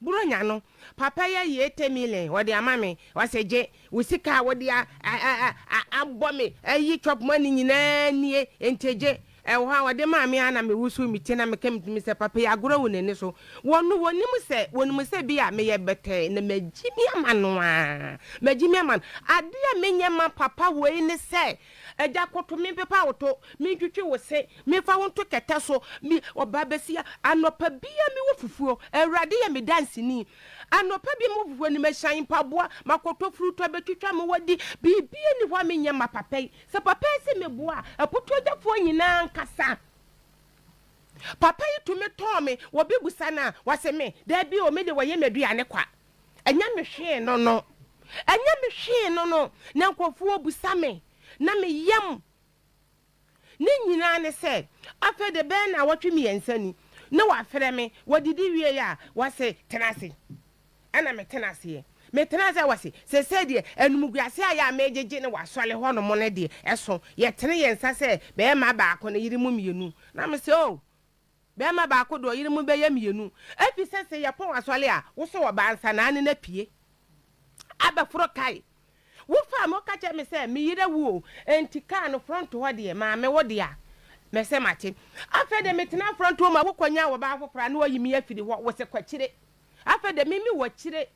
Buronya no papa yi ayi eighty million ɔde ama me, ɔse gye wo sika a wode abɔ me ayi chop money nyinaa nie, nti gye. Ɛwɔ hɔ a ɔde maa me ara na me wusu me ti na meka me tirim sɛ papa yi agorɔ awu n'ani so. Wɔno wɔnim sɛ wɔnim sɛ bi a meyɛ bɛtɛɛ na magyimi ama no aa, magyimi ama no. Adeɛ a menyɛ ma papa wei ne sɛ Agya koto me mpepa wo to, mentwitwi wo se memfa wo nto kɛtɛ so. Me ɔbaa basia, anɔpa biara mewɔ fufuo, Awurade yɛ me danseni. Anɔpa biara mewɔ fufuo, animahyɛn, mpaboa, makoto furutɔ bɛtwitwa me wɔ de, biribiara nni hɔ a menyɛ mma papa yi. Sɛ papa yi se meboa a, aputuagyafoɔ nyinaa nkasa. Papa yi tumi tɔn me, wɔbɛbusa no a, wase me, Daabi o, me de wɔyɛ m'aduane kwa. Ɛnyɛ me hwee no no. Ɛnyɛ me hwee no no na nkurɔfoɔ bisa me na me yam. Ne nyinaa ne sɛ, afei de bɛyɛ nnawɔtwe mmiɛnsa ni na wɔafrɛ me, wɔdidi wieeɛ a wɔse tena ase. Ɛna metena aseɛ. Metena ase a wɔse, seesei deɛ animguaseɛ a yɛ a megyegye no wɔ asɔre hɔ nom no deɛ ɛso. Yɛtene yɛn nsa sɛ bɛyɛ mma baako ne yere mu mmienu. Na mese, Oh! Bɛɛma baako de ɔyere mu bɛyɛ mmienu, efisɛ se yɛpɔn asɔre a, wosɔ ɔbaa nsa na ane no apue. Abɛforo kae, Wo faa me woka kyerɛɛ me sɛ me yere awu o, enti kaa no front hɔ deɛ maa me wo dea. Mese mate. Afei de metena front hɔ ma wo kɔnyaa ɔbaa foforɔ a na wayi me afiri hɔ, wose kɔ akyire. Afei de me me wɔ akyire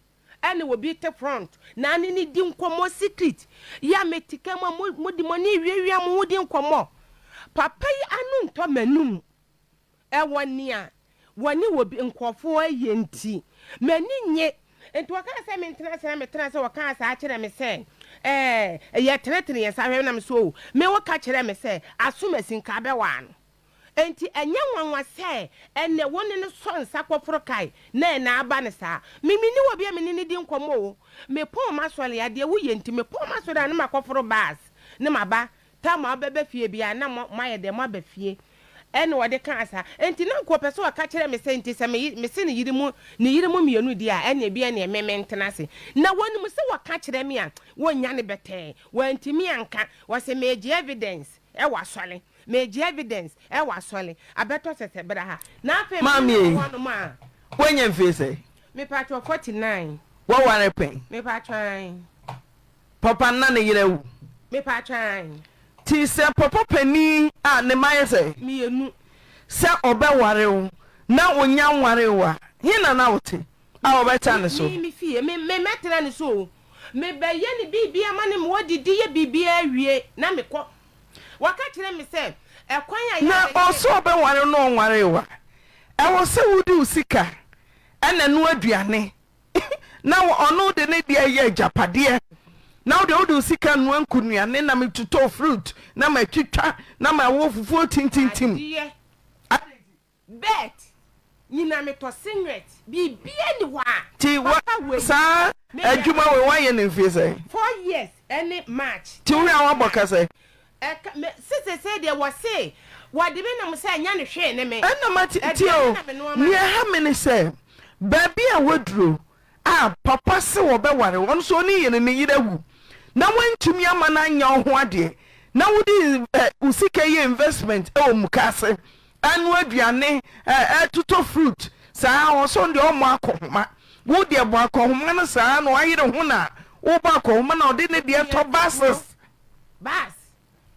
Ɛne obi te front na ne no di nkɔmmɔ secret yɛ ametika mu a mode mo ani rewiawia mo ho di nkɔmmɔ. Papa yi ano ntɔ m'anom. Ɛwɔ nea wɔne obi nkurɔfoɔ ayɛ nti, m'ani nnye. Nti wɔkaa sɛ mentena ase na metenaa ase wɔkaa saa kyerɛɛ me sɛ ɛɛ yɛtenetene yɛn nsa hwɛ na me sɛ oo. Me woka kyerɛɛ me sɛ aso masin ka bɛwaa no. Enti ɛnyɛ nwanwa sɛ ɛnnɛ wo ne no sɔ nsa kɔforo kae na ɛnna aba no saa. Me menni obi a me ne no di nkɔmmɔ o. Mepɔn m'asɔre a, deɛ woyɛ nti. Mepɔn m'asɔre a, na makɔforo bus na maba. Tam a wobɛba fie biara, na mo, moayɛ dɛn? Moaba fie. Ɛnna ɔde kaa saa. Enti na anka ɔpɛ sɛ ɔka kyerɛ me sɛ, enti sɛ me ye, mese ne yere mu, ne yere mu mmienu deɛ a, ɛnna ebia neɛ me, mentena ase. Na wɔnim sɛ wɔka kyerɛ me a, wɔnnya no bɛtɛɛ. Wantumi anka. Ɔse, Megye evidence. Ɛwɔ asɔre. Megye evidence. Ɛwɔ asɔre. Abɛtɔ sɛsɛ bra ha. Na afei me ne no wɔ hɔ nom a. Maame, Wanya mfie sɛn? Me patrɔ forty nine. Waware pɛn? Me patrɔ ae. Papa no na ne yere awu? Me patrɔ ae. Nti sɛ papa panin a ne mma yɛ sɛn? Mmienu. Sɛ ɔbɛware wo na onya nware wo a, he na na wote? A wɔbɛtra ne so. Me, me fie, me, me, mɛtra ne so o. Mebɛyɛ no biribiara ma no, mewɔ didi yɛ biribiara awie na mekɔ. Waka kyerɛ me sɛ, ɛkwan a Na yɛabɛyɛ ɔse yɛ. ɔbɛware wo na ɔnwaree wo a, ɛwɔ sɛ wode wo sika na ɛnoa aduane na ɔno de ne deɛ yɛ agyapadeɛ, na wo deɛ wode wo sika noa nkunuane na metotɔ fruit na matwitwa na mawo fufuo tintintim. Adeɛ. Bert, nyina metɔ singlet, biribiara nni hɔ a papa wei. Ti wo saa adwuma wei wayɛ no mfie sɛn? Four years ne March. Ti wo a wabɔ ka sɛn? Ɛka me se sesei deɛ wɔse wɔde me nom sɛ ɛnyɛ no hwee ne me. Ɛna ma ti ti o, nea ɛha me ne sɛ baabi a waduro a papa se wɔbɛware wo, ɔno nso ɔnii yɛ no, ne yere awu na woantumi amma no anyɛ wo ho adeɛ na wode eh, wo sika yɛ investment wɔ mukaase, ɛno aduane, eh, ɛtotɔ fruit saa, ɔsɔn deɛ ɔmmɔ akɔhoma, wo deɛ bɔ akɔhoma no saa na wayere ho na wobɔ akɔhoma na ɔde ne deɛ tɔ buses. Bus,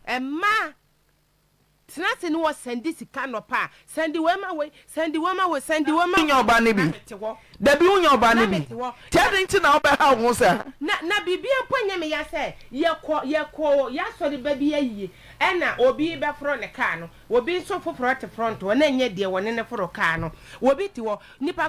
ɛma Tena ase ne wɔ sɛn di sika anɔpa a, sɛn di wei ma wei, sɛn di wei ma wei, sɛn di wei ma wei. Wonya ɔba no bi? Dabi wonya ɔba no bi. Nti adɛn nti na wobɛhaw wo ho saa? Na na biribiara mpo nyɛ me ya sɛ yɛkɔ yɛkɔ y'asɔre ba bi ayie ɛna obi bɛforo ne car no, obi nso foforɔ te front hɔ na ɛnyɛ deɛ wɔne no foro car no, obi te hɔ, nipa.